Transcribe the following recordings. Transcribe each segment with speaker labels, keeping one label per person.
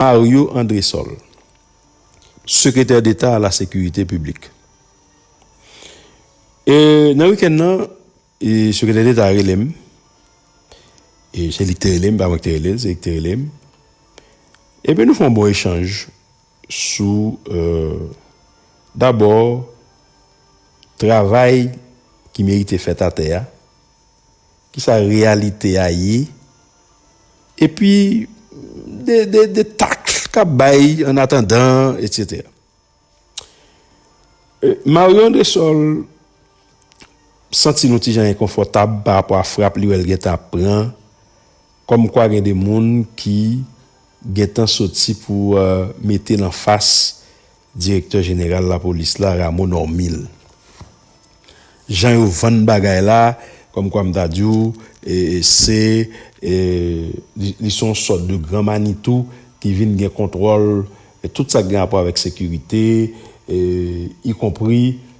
Speaker 1: Ario Andresol, Sekretè Deta a la Sekirite Piblik. E nan wikenn nan, e Sekretè Deta a rele m, e se li ki te rele m, pa mwen ki te rele l, se li ki te rele m, epi nou fè yon bon echanj sou e dabò travay ki merite fèt atè a, Ki sa reyalite a ye? Epi, de taks k ap bay an atandan, etsetera. Mario Andresol santi l yon ti jan enkonfòtab parapò a frap li wè l gentan ap pran Kòm kwa gen de moun ki gentan soti pou mete nan fas direktè jeneral lapolis la Rameau Normil. Jan yo vann bagay la kòm kwa m ta di w se li se yon sòt de gran manitou ki vin gen kontwòl tout sa k gen rapò avèk sekirite ikonpri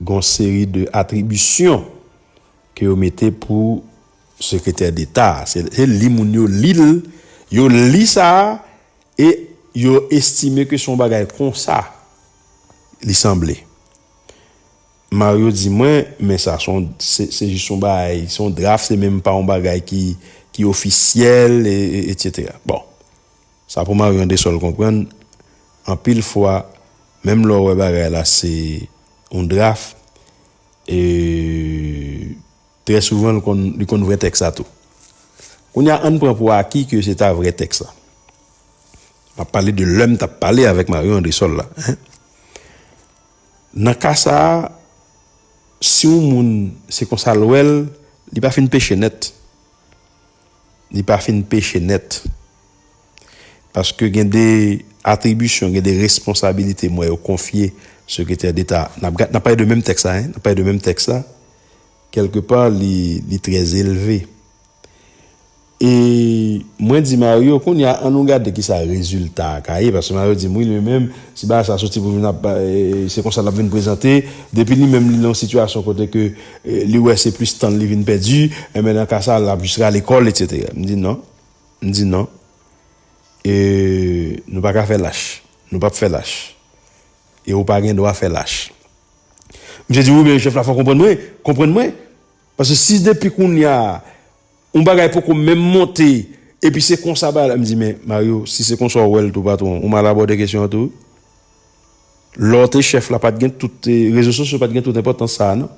Speaker 1: gon seri de atribisyon ke yo mete pou sekretè deta se li moun yo lil yo li sa e yo estime ke son bagay konsa li sanble Mario di mwen men sa son se jis son bagay son draf se menm pa yon bagay ki ofisyèl e etc bon. Sa pou Marion de sol konprann anpil fwa menm lè w wè bagay la se yon draf e trè souvan l konn li konn vrè tèks la tou kounye a ann pran pou aki ke se ta vrè tèks la m ap pale de lè m t ap pale avèk Marion Andresol la hein nan ka sa si yon moun se konsa l wè l li pa fin peche nèt. li pa fin peche nèt. Paske gen de atribisyon, gen de responsabilite m wè yo konfye Sekretè Deta a. N ap gad, n ap pale de menm tèks la, n ap pale de menm tèks la. Kèlke pa li, li trè elve. E mwen di Mario, kounye a an nou gade ki sa rezilta a ka ye. Paske Mario di m, wi li menm, si bagay sa a soti pou vin ap, se konsa l ap vin prezante. Depi li menm li nan yon sitiyasyon kote ke. Li wè se plis tan li vin pèdi, enben nan ka sa lap jis rale kòl etc. M di non, m di non e nou pa ka fè lach, nou pap fè lach e ou pa gen dwa fè lach. Misye di wi men chèf la fò konprann mwen, konprann mwen paske si depi kounya Yon bagay poko menm monte epi se konsa bagay la, m di men Mario si se konsa w wè l tou patwon ou mal abòde kesyon an tou wi. Lè w te chèf la pat gen tout, rezo sosyo pat gen tout enpòtans sa a non.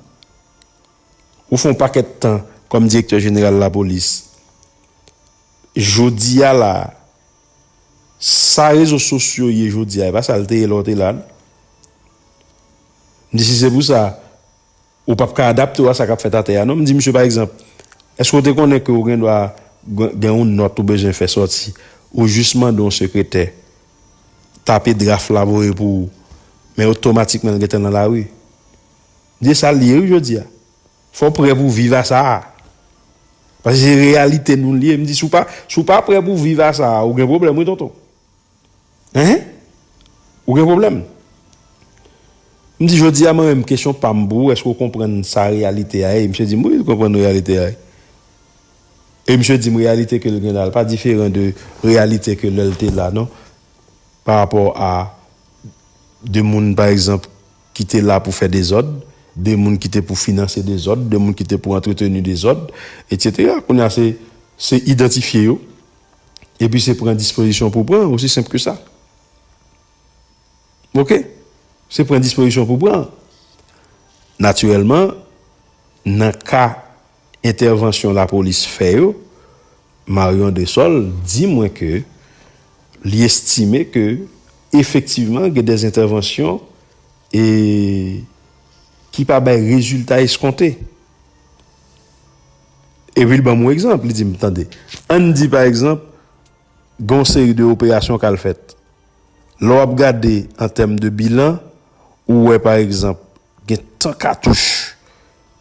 Speaker 1: Ou fè yon pakèt tan kòm direktè jeneral lapolis. Jodi a la a, sa rezo sosyo ye jodi a e pa sa l te ye lè w te la non. M di si se pou sa, Ou pap ka adapte w a sa k ap fèt atè a non. M di misye pa egzanp, Èske w te konnen ke ou gendwa gen yon nòt ou bezwen fè sòti? Ou jis mande yon sekretè tape draf la voye pou ou, men otomatikman l gentan nan lari. M di e sa l ye wi jodi a. Fò w prè pou w viv a sa a. Paske se reyalite nou l ye. M di si w pa prè pou w viv a sa a, ou gen pwoblèm wi tonton. Hein? Ou gen pwoblèm? M di jodi a mwen menm kesyon pa m pou ou èske ou konprann sa reyalite a ye? Misye di m wi m konprann reyalite a ye. E misye di m reyalite ke l gen la l pa diferan de reyalite ke lè l te la non. Pa rapò a de moun pa egzanp ki te la pou fè dezòd, de moun ki te pou finanse dezòd, de moun ki te pou antreteni dezòd, etc. Kounye a se idantifye yo. epi se pran dispozisyon pou pran osi senp ke sa ok se pran dispozisyon pou pran natirèlman nan ka entèvansyon la polis fè yo Marion de Sol di mwen ke li estime ke efektivman gen de entèvansyon e ki pa bay rezilta eskonte. Epi l ban m yon egzanp, li di m, Tande, ann di pa egzanp, gen yon seri de operasyon k al fèt. Lè w ap gade an tèm de bilan, ou wè pa egzanp, gen tan katouch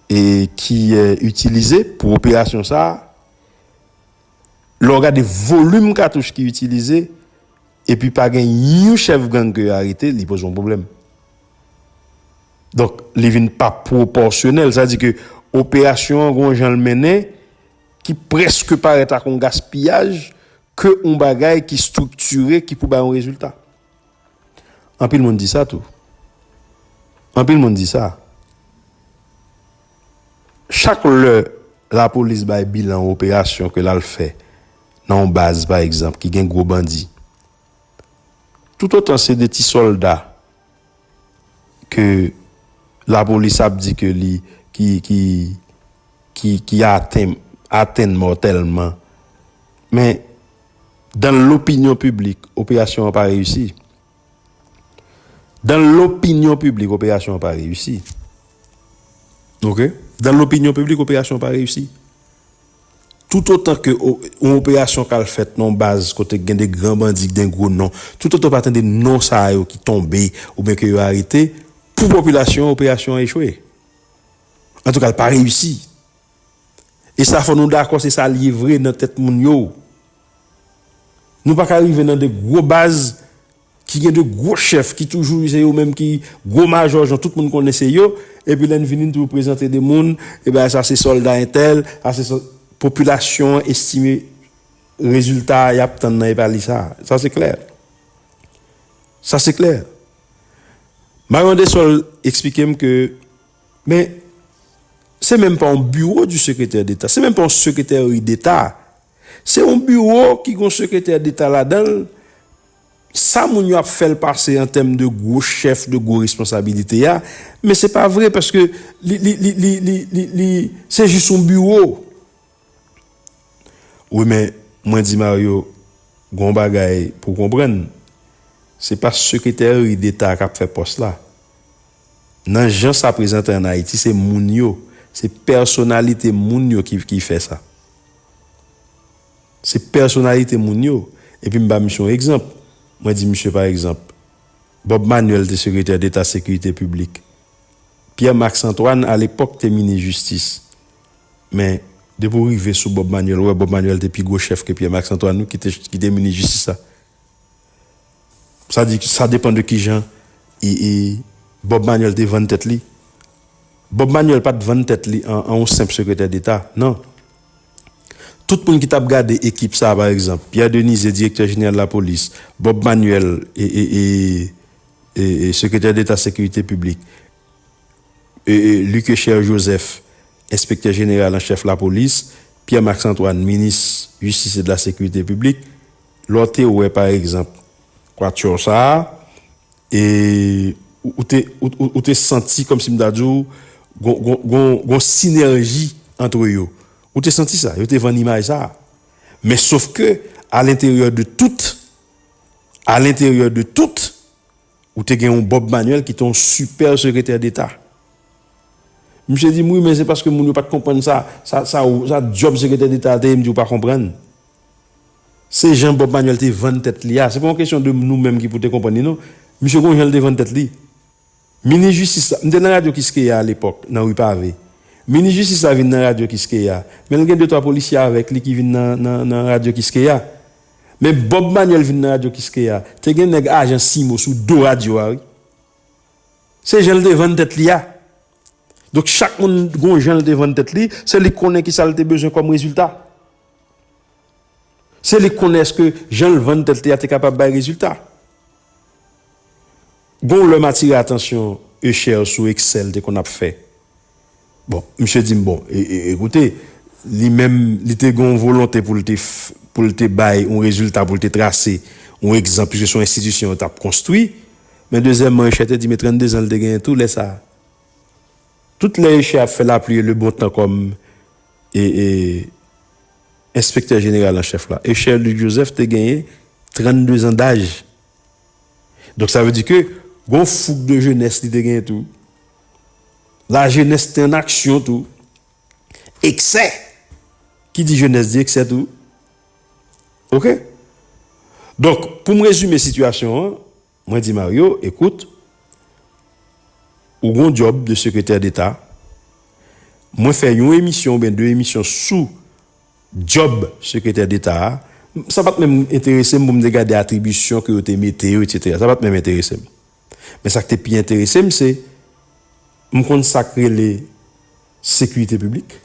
Speaker 1: ki itilize pou operasyon sa a. Lè w gade volim katouch ki itilize, Epi pa gen yon chèf gang ke yo arete li poze yon pwoblèm. Donk li vin pa pwopòsyonèl. Sa di ke operasyon an gon jan l mennen ki preske parèt ak yon gaspiyaj ke yon bagay ki striktire ki pou bay yon rezilta. Anpil moun di sa tou. Anpil moun di sa. Chak lè lapolis bay bilan yon operasyon ke l al fè. Nan yon baz pa egzanp ki gen gwo bandi, toutotan se 2 ti sòlda ke lapolis ap di ke li ki atenn mòtèlman, men dan lopinyon piblik operasyon an pa reyisi. Dan lopinyon piblik operasyon an pa reyisi. Ok. Dan lopinyon piblik operasyon an pa reyisi. Toutotan ke yon operasyon kal fèt nan yon baz kote gen de gran bandi, gen gwo non, toutotan ou pa tande non sa a yo ki tonbe oubyen ke yo arete, pou popilasyon an operasyon an echwe. Antouka l pa reyisi. E sa fò nou dakò se sa l ye vre nan tèt moun yo. Nou pa ka rive nan 2 gwo baz ki gen 2 gwo chèf ki toujou se yo menm ki gwo majò jan tout moun konnen se yo epi lè n vini n toujou prezante 2 moun e bay sa se sòlda entèl sa se sòlda popilasyon an estime rezilta y ap tann nan epa li sa sa se klè sa se klè Mario Andesol esplike m ke men se menm pa yon biwo di sekretè deta se menm pa yon sekretèri deta Se yon biwo ki gen yon sekretè deta ladan l, sa moun yo ap fè l pase an tèm de gwo chèf, de gwo responsabilite a, men se pa vre paske li se jis yon biwo. Wi men mwen di Mario, gen yon bagay pou w konprann, se pa sekretèri deta k ap fè pòs la. Nan jan sa prezante an Ayiti se moun yo, se pèsonalite moun yo ki fè sa. Se pèsonalite moun yo. Epi m ba misye yon egzanp. Mwen di misye pa egzanp, Bob Manuel te sekretè deta sekirite piblik. Pierre Max Antoine alepòk te minis jistis. Men, depi w rive sou Bob Manuel, ou wè Bob Manuel te pi gwo chèf ke Pierre Max Antoine wi ki te minis jistis la. Sa di sa depan de kijan Bob Manuel te vann tèt li. Bob Manuel pa t vann tèt li an yon senp sekretè deta, nan. Tout moun ki t ap gade ekip sa a pa egzanp, Pierre Denise, direktè jeneral lapolis, Bob Manuel, sekretè deta sekirite piblik, Luc-Echer Joseph, enspektè jeneral an chèf lapolis, Pierre Max Antoine, minis jistis e de la sekirite piblik, Lè w te wè pa egzanp Quatuor sa a, e ou te ou te santi kòmsi m ta di w gon gon gon gon sinèji antre yo. Ou te santi sa, yo te vann imaj sa a. Men sof ke alenteryè de tout, alenteryè de tout, ou te gen yon Bob Manuel ki te yon sipè sekretè deta. Misye di m wi men se paske moun yo pa t konprann sa sa sa sa djòb sekretè deta a te ye m di w pa konprann. Se jan Bob Manuel te vann tèt li a, se pa yon kesyon de nou menm ki pou te konprann li non. Misye gon jan li te vann tèt li. Minis jistis la, m te nan radyo Kiskeya a lepòk, nan Ri Pave. Minis jistis la vin nan radyo Kiskeya, men l gen de twa polisye avèk li ki vin nan radyo Kiskeya. Men Bob Manuel vin nan radyo Kiskeya, te gen nèg ajan Simo sou do radyo a wi. Se jan li te vann tèt li a. Donk chak moun gon jan li te vann tèt li, se li ki konnen ki sa li te bezwen kòm rezilta. Se li k konnen èske jan l vann tèt li a te kapab bay rezilta. Gen yon lè m atire atansyon Usher sou eksè l te konn ap fè. Bon, misye di m, bon, ekoute, li menm, li te gen yon volonte pou l te, pou l te bay yon rezilta, pou l te trase yon egzanp, piske se yon enstitisyon yo t ap konstwi. Men dezyèmman, Usher te di m e 32 zan l te genyen tou lè sa a. Tout lè Usher ap fè lapli e lebontan kòm. E enspektè jeneral an chèf la, Echer Luc Joseph te genyen 32 zan daj. Donk sa vle di ke gon foug de jenès li te genyen tou. La jenès te an aksyon tou. Eksè! Ki di jenès di eksè tou. Ok? Donk, pou m rezime sitiyasyon an. Mwen di Mario, ekout, ou gon dyòb de sekretè deta, mwen fè yon emisyon oubyen 2 emisyon sou dyòb sekretè deta a, sa pat menm enterese m pou m te gade atribisyon ke yo te mete yo etsetera, sa pat menm enterese m. Men sa k te pi enterese m se m konn sa k rele sekirite piblik.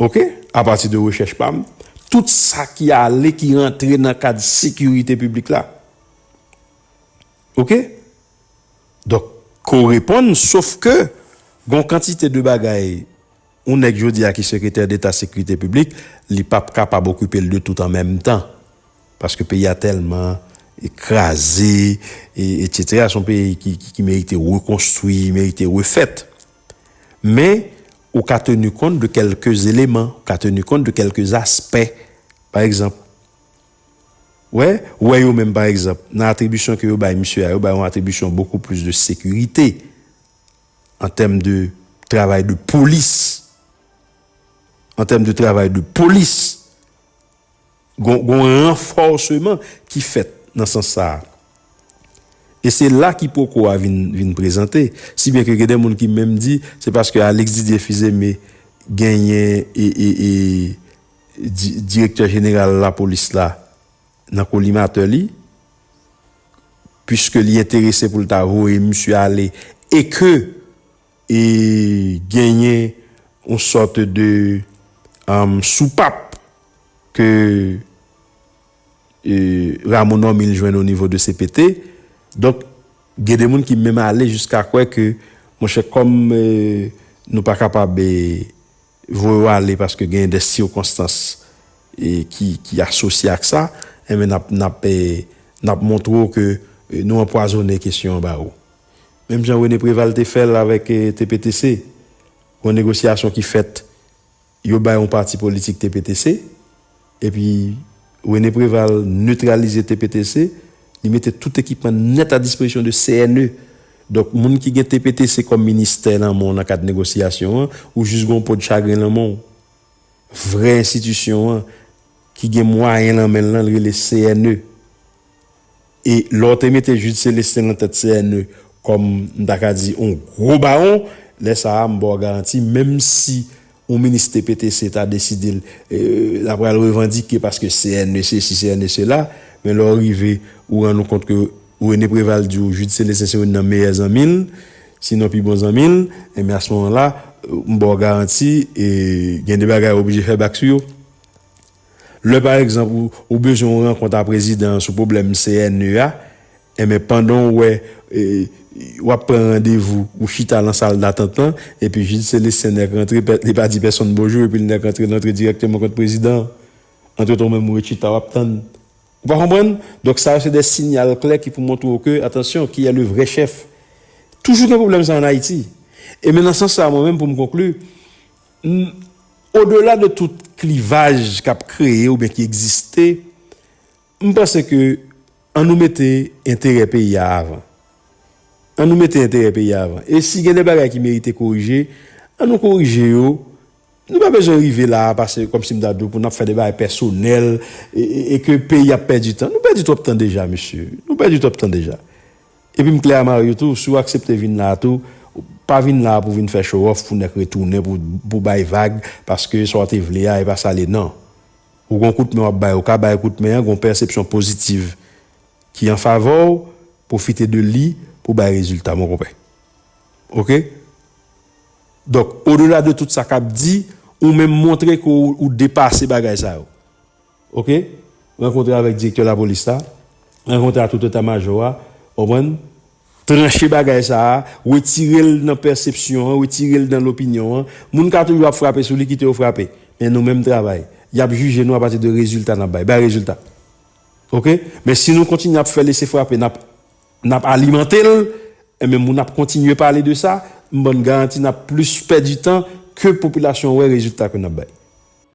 Speaker 1: Ok, apati de rechèch pa m, tout sa ki ale, ki rantre nan kad sekirite piblik la. Ok? Donk, ko reponn, sof ke, gon kantite de bagay, yon nèg jodi a ki sekretè deta sekirite piblik, li pa p kapab okipe l de tout an menm tan. Paske peyi a tèlman kraze, etsetera, son peyi ki merite rekonstwi, merite refèt. Men, Ou ka tenu kont de kèlke eleman, ou ka tenu kont de kèlke aspè. Pa egzanp, wè, wè yo menm pa egzanp, nan atribisyon ke yo bay misye a, yo bay yon atribisyon bokou plis de sekirite, an tèm de travay de polis, an tèm de travay de polis. Gon yon ranfòseman ki fèt nan sans sa a. E se la kipoko a vin prezante. Si byen ke gen de moun ki menm di, se paske Alix Didier Fils-Aimé genyen direktè jeneral lapolis la nan kolimatè li, puiske li enterese pou l ta voye misye ale, e ke. E genyen yon sòt de soupap ke Rameau Normil jwenn o nivo de cpt. Donk, gen de moun ki menm ale jiska kwè ke, monchè, kòm nou pa kapab voye yo ale paske genyen de sikonstans ki asosye ak sa, enben n ap montre w ke nou anpwazonnen kesyon an ba ou. Menm jan Rene Preval te fè l avèk TPTC, yon negosyasyon ki fèt, yo bay yon pati politik TPTC, epi Rene Preval netralize TPTC, li mete tout ekipman nèt a dispozisyon de CNE. Donk moun ki gen TPTC kòm ministè nan men w nan kad negosyasyon an, ou jis gen yon po de chagren nan men w. Vrè enstitisyon an, ki gen mwayen nan men l lan, li rele CNE. E lè w te mete Jude Celestin nan tèt CNE kòm m ta ka di yon gwo bawon, lè sa a m ba w garanti menm si yon minis TPTC ta deside l ap pral revandike paske CNE sesi CNE sela, men lè w rive ou rann ou kont ke René Préval di w Jude Celestin se youn nan meyè zanmi l, sinon pi bon zanmi l, enben a se moman la m ba w garanti gen de bagay ou oblije fè bak sou yo. Lè pa egzanp ou bezwen yon rankont a prezidan an sou pwoblèm CNE a, enben pandan w wè w ap pran randevou, ou chita lan sal datant lan, epi Jid Selestin nèk rantre, li pa di pèsonn bonjou epi l nèk rantre, l rantre dirèkteman kot prezidan an. Antretan ou menm ou ret chita w ap tann. Ou pa konprann? Donk sa yo se de sinyal klè ki pou montre w ke, atansyon, kiyè le vrè chèf? Toujou gen pwoblèm sa an Ayiti. E men nan sans sa a mwen menm pou m konkli, N. Odela de tout klivaj k ap kreye oubyen ki egziste, m panse ke an nou mete enterè peyi a avan. An nou mete enterè peyi a avan. E si gen de bagay ki merite korije, an nou korije yo. Nou pa bezwen rive la a pase kòm si m ta di w pou n ap fè de bagay pèsonèl e ke peyi ap pèdi tan. Nou pèdi twòp tan deja mesye. Nou pèdi twòp tan deja. Epi m klè a Mario tou, si w aksepte vin la a tou, pa vin la a pou vin fè show off pou nèk retounen pou bay vag paske sa w te vle a e pa sa l ye nan. Ou gon kout men w ap bay, ou ka bay kout men an, gon pèsepsyon pozitiv ki an favè w, pwofite de li pou bay rezilta mon konpè. Ok? Donk, odela de tout sa k ap di, ou menm montre ke w depase bagay sa yo. Ok rankontre avèk direktè lapolis la rankontre a tout eta majò a konprann tranche bagay sa a retirel nan pèsepsyon an retirel nan lopinyon an moun ka toujou ap frape sou li kite yo frape men nou menm travay yap jije nou apati de rezilta nap bay bay rezilta ok men si nou kontinye ap fè lese frape nap nap alimantel enben moun ap kontinye pale de sa m bann garanti nap plis pèdi tan ke popilasyon wè rezilta ke nap bay.